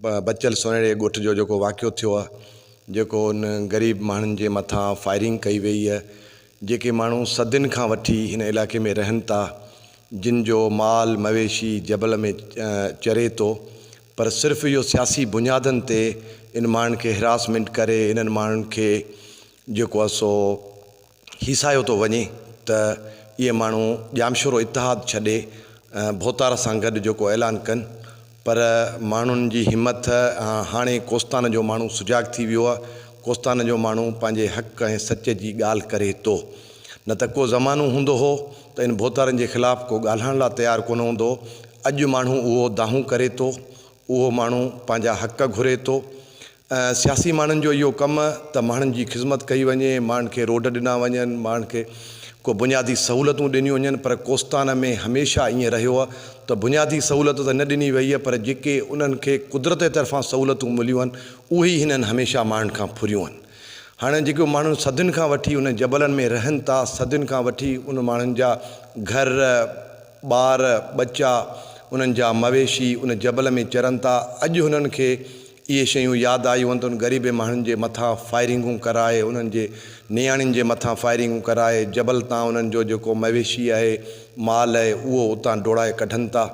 بچيل سنهڙي ڳوٺ جو جيڪو واقعو ٿيو آهي جيڪو ان غريب ماڻهن جي مٿان فائرنگ ڪئي وئي آهي جيڪي ماڻهو صدين کان وٺي ان علائقي ۾ رهن ٿا جن جو مال مويشي جبل ۾ چري ٿو پر صرف اهو سياسي بنيادن تي ان ماڻهن کي هراسمينٽ ڪري انهن ماڻهن کي جيڪو آهي سو هي ساهيو ٿو وڃي ته اهي ماڻهو ڄامشورو اتحاد ڇڏي ڀوتار سان گڏ جيڪو اعلان ڪن پر ماڻهن جي همٿ هاڻي ڪوستان جو ماڻهو سجاڳ ٿي ويو آهي ڪوستان جو ماڻهو پنهنجي حق ۽ سچ جي ڳالهه ڪري ٿو نه ته ڪو زمانو هوندو هو ته ان ڀوتارن جي خلاف ڪو ڳالهائڻ لا تيار ڪونه هوندو هو اڄ ماڻهو اهو دانهون ڪري ٿو اهو ماڻهو پنهنجا حق گهري ٿو ۽ سياسي ماڻهن جو اهو ڪم ته ماڻهن جي خذمت ڪئي وڃي، ماڻهن کي روڊ ڏنا وڃن، ماڻهن کي ڪو بنيادي سهولتون ڏنيون وڃن پر ڪوستان ۾ هميشه ائين رهيو ته بنيادي سهولت ته نه ڏني وئي پر جيڪي انهن کي قدرت جي طرفان سهولتون مليون آهن اهي ئي هنن هميشه ماڻهن کان ڦريون آهن. هاڻ جيڪو ماڻهن صدين کان وٺي انهن جبلن ۾ رهن ٿا، صدين کان وٺي ان ماڻهن جا گهر، ٻار، ٻچا، انهن جا مويشي ان جبل ۾ چرن ٿا. اڄ هنن کي اهي شيون ياد آيون هن ته انهن غريبين ماڻهن جي مٿان فائرنگون ڪرائي، انهن جي نياڻين جي مٿان فائرنگون ڪرائي، جبل تان انهن جو جيڪو مويشي آهي، مال آهي، اهو اتان ڊوڙائي ڪڍن ٿا.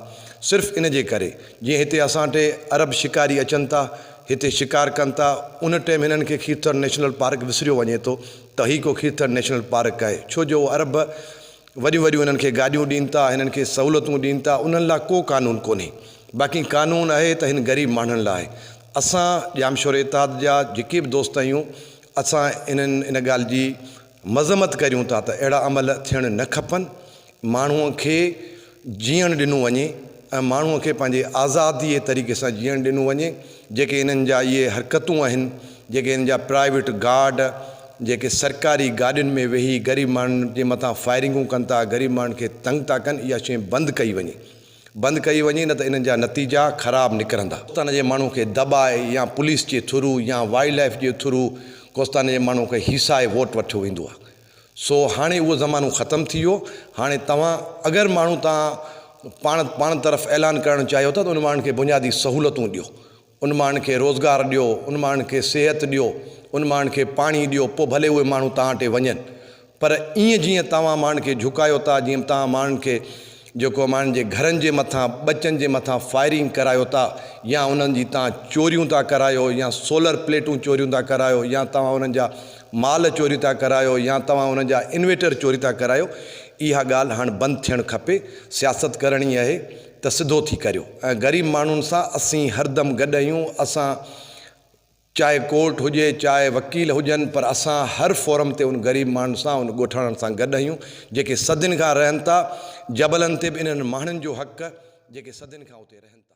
صرف ان جي ڪري. جيئن هتي اسان ٽي عرب شڪاري اچن ٿا، هتي شڪار ڪن ٿا، ان ٽيم هنن کي کيرٿر نيشنل پارڪ وسريو وڃي ٿو ته هي ڪو کيرٿر نيشنل پارڪ آهي. ڇو جو عرب وڏيون وڏيون هنن کي گاڏيون ڏين ٿا، هنن کي سهولتون ڏين ٿا، انهن لا ڪو قانون ڪونهي، باقي قانون اهي ته هن غريب ماڻهن لا آهي. اسان ڄام شوري اتحاد جا جيڪي به دوست آهيون، اسان انهن ان ڳالهه جي مذمت ڪريون ٿا ته اهڙا عمل ٿيڻ نه کپن، ماڻهوء کي جيئڻ ڏنو وڃي. ۽ ماڻهوء کي پنهنجي آزاديء طريقي سان جيئڻ ڏنو وڃي، جيڪي هنن جا اهي حرڪتون آهن، جيڪي هن جا پرائيويٽ گارڊ جيڪي سرڪاري گاڏين ۾ ويهي غريب ماڻهن جي مٿان فائرنگون ڪن ٿا، غريب ماڻهن کي تنگ ٿا ڪن، اها شيء بند ڪئي وڃي. بند ڪئي وڃي نه ته انهن جا نتيجا خراب نڪرندا. ڪوستانا جي ماڻهوء کي دٻائي يا پوليس جي ٿرو يا وائلڊ لائيف جي ٿرو ڪوستانا جي ماڻهوء کي هيسائي ووٽ وٺيو ويندو آهي. سو هاڻي اهو زمانو ختم ٿي ويو هاڻي توهان اگر ماڻهو تان پاڻ پاڻ طرف اعلان ڪرڻ چاهيو ٿا ته ان ماڻهن کي بنيادي سهولتون ڏيو ان ماڻهن کي روزگار ڏيو ان ماڻهن کي صحت ڏيو ان ماڻهن کي پاڻي ڏيو پو ڀلي اهي ماڻهو توهان ٽي وڃن پر ايئن جيئن توهان ماڻهن کي جهڪايو ٿا جيئن توهان ماڻهن کي جيڪو ماڻهن جي گهرن جي مٿان ٻچن جي مٿان فائرنگ ڪرايو ٿا يا انهن جي تان چوريون ٿا ڪرايو يا سولر پليٽون چوريون ٿا ڪرايو يا توهان انهن جا مال چوري ٿا ڪرايو يا توهان انهن جا انويٽر چوري ٿا ڪرايو اها ڳالهه هاڻ بند ٿيڻ کپي سياست ڪرڻي اهي ته سڌو ٿي ڪريو ۽ غريب ماڻهن سان اسين هردم گڏ اهيون اسان چاهي ڪورٽ هجي چاهي وڪيل هجن پر اسان هر فورم تي ان غريب ماڻهن سان ان ڳوٺاڻن سان گڏ اهيون جيڪي صدين کان رهن ٿا جبلن تي به انهن ماڻهن جو حق جيڪي صدين کان اتي رهن ٿا.